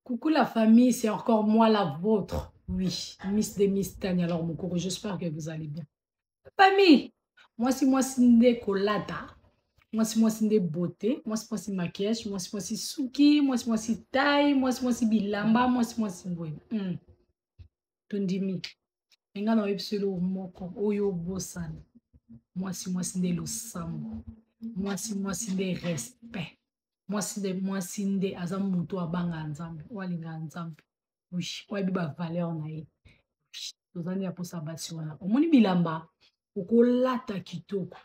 Coucou la famille, c'est encore moi la vôtre. Oui, Miss de Miss Tania alors mon cours, j'espère que vous allez bien. Famille, moi si moi si nde kolata, moi si moi si nde beauté, moi si moi si maquillage, moi si moi si suki, moi si moi si taille, moi si moi si bilamba, moi si moi si boye. Hmm. Tondimi. Enga na yebi solo moko oyo bosana. Moi si moi si nde losambo. Moi si moi si nde respect. mwasi nde mwasi nde aza moto abangaka nzambe oyo alingaka nzambe oui oyo ayebi bavaleur na ye toza nde ya mposa basi wana omoni bilamba okolata kitoko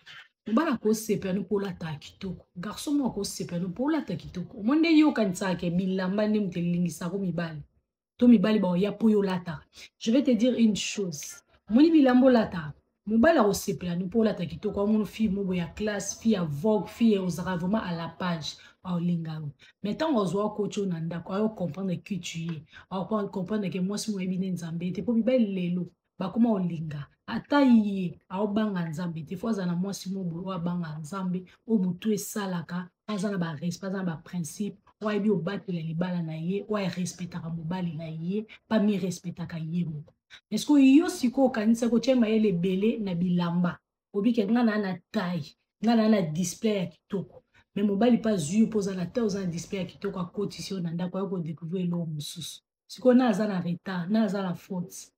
mobala akosepela no mpo olata kitoko garso moko akosepela no mpo olata kitoko omoni nde yokanisaka ke bilamba nde moto elingisako mibali to mibali baoya mpo yo olata je vais te dire une chose omoni bilamba olata mobali akosepela no mpo olata kitoko amono fille moko ya classe fille ya vogue fille ozalaka vraiment à la page aolinga yo mais ntango azwa kotyo na ndako ayo comprendre que tu ye aocomprendre ke mwasi moyebi nde nzambe te mpo mibali lelo bakoma olinga ata ye aobanga nzambe te fo aza na mwasi mobo oyo abanga nzambe oyo motu esalaka aza na barespect aza na baprincipe oyo ayebi obatela libala na ye oyo arespectaka mobali na ye pamirespectaka ye moko eske yo sikoyo okanisaki otya mayele ebele na bilamba obike nga naa na taille nga naa na display ya kitoko me mobali mpe azwi yo mpo oza na taille oza na display ya kitoko akotisi yo na ndako ayo kodecouvrir eloko mosusu sikoyo na aza na retard na aza na faute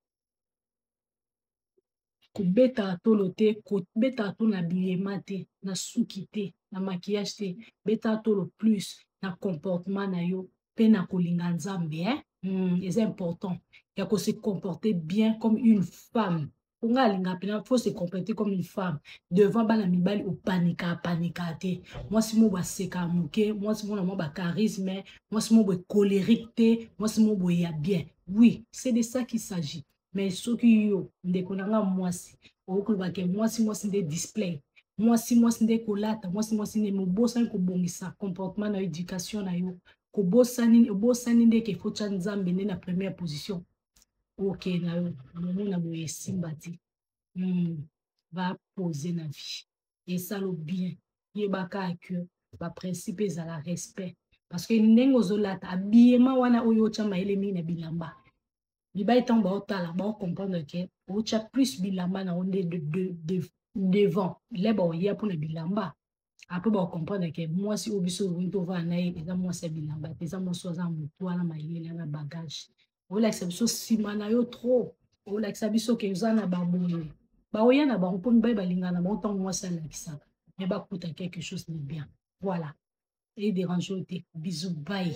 kobetaka tolo te kobetaka tolo na bilema te na suki te na makiyage te betaka tolo plus na comportement na yo mpe na kolinga nzambe eh? mm, eza important ya kose comporter bien comme une femme po ngai alingaka mpena faut se comporter comme une femme devant bana mibali opanika apanika te mwasi mo baseka moke mwasi mona mwa bacharisme mwasi mo boye colérique te mwasi mo boye ya bien oui c'est de ça qui s'agit mais soki yo ndeko na nga mwasi okoki kolobake mwasi mwasi nde display mwasi mwasi nde kolata mwasi mwasi nde mobosani kobongisa comportement na yo éducation na yo kobosani obosani nde ke faut tya nzambe nde na première position oke na yo omona boye esimba te hmm. bapose na vie esalo bien yebaka que baprincipe ezala respect parce que ndenge ozolata abiyema wana oyo otya mayele mingi na bilamba bibai ntango baotala baocomprendre ke otya plus bilamba na yo nde devant leba oya mpo na bilamba après bakokomprendre ke mwasi oyo biso olingi tovanda na ye eza mwasi ya bilamba te eza mwasi oyo aza motu wana mayele na bagage olakisa biso nsima na yo trop olakisa biso ke oza na baboye baoya na bango mpo mibali balingana bango ntango mwasi alakisaka me bakuta quelque chose de bien voilà ederange yo te bisu bai